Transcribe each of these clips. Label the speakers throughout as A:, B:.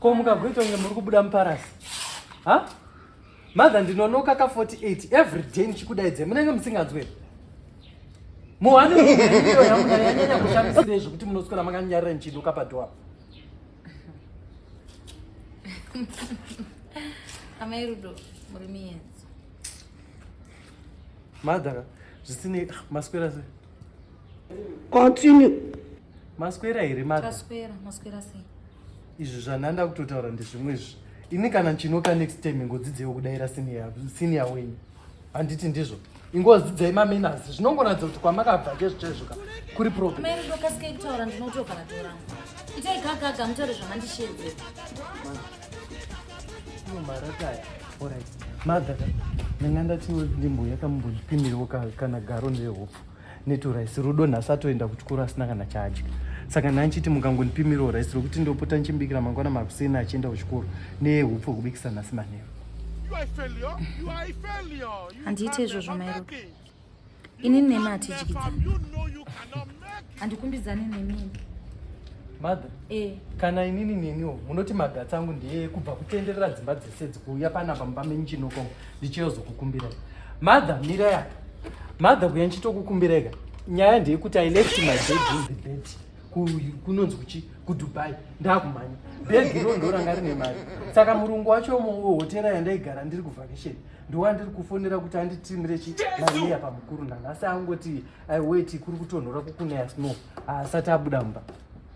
A: Ko mukagoita kunge muri kubuda muparasi. Ha? Mother ndinonoka ka 48 every day ndichikudaidze munenge musinganzwe. Muhani ndiyo yangu yanyanya kushamisira zvekuti munoswera makanyarira ndichiduka padoor.
B: Amai Rudo muri miyenzi.
A: Mother zvisinei ah, maswera sei?
C: Continue.
A: maswera here mataswera maswera sei
B: izvi zvananda
A: kutotaura ndezvimwe izvi ini kana ndinoka next time ingodzidzewo kudaira senior wenyu handiti ndizvo ingodzidzai mamenasi zvinongoratidza kuti kwamakabva chezvo chaizvoka kuri problemmairidokasika kutaura
B: ndinotogara tora itai gagaga mutaure zvamandishedze
A: marataya orit madhaka ndanga ndatiwo ndimbo yakamumbozvipimiriwo kana garo nderehopfu neto rice rudo nhasi atoenda kuchikoro asina kana chaadya saka nhani chiti mukangondipimirawo rice rokuti ndopota ndichimbikira mangwana makuseni achienda kuchikoro nehupfu hwekubikisa nhasi manheru
B: handiite izvozvo mairo ini nemi hatidyidzani handikumbidzani nemini mother
A: eh. kana inini neniwo munoti magatsi angu ndeye kubva kutenderera dzimba dzese dzikuuya panapa mumba menyu chinoko ndichiyozokukumbirai mother mirai apa mother kuya ndichitokukumbirai ka nyaya ndeyekuti i left my bed in the bed kunonzi kuchi kudubai ndakumhanya bhegi iro ndoranga rine mari saka murungu wacho hotera yandaigara ndiri kuvhakesheni ndowa ndiri kufonera kuti anditimire chi mariya pamukuru nhanhasi angoti aiweti kuri kutonhora kukunaya snow asati abuda mumba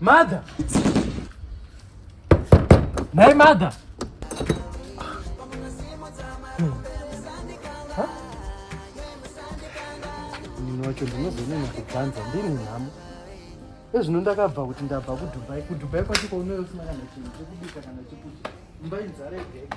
A: Mother. Nhai mother. Munhu wacho ndinozonena kubvanza ndiri nhamo. Ezvino ndakabva kuti ndabva kuDubai. KuDubai kwacho kwaunoyo usina kana chinhu chekubika kana chekudya. Imba inzara yega yega.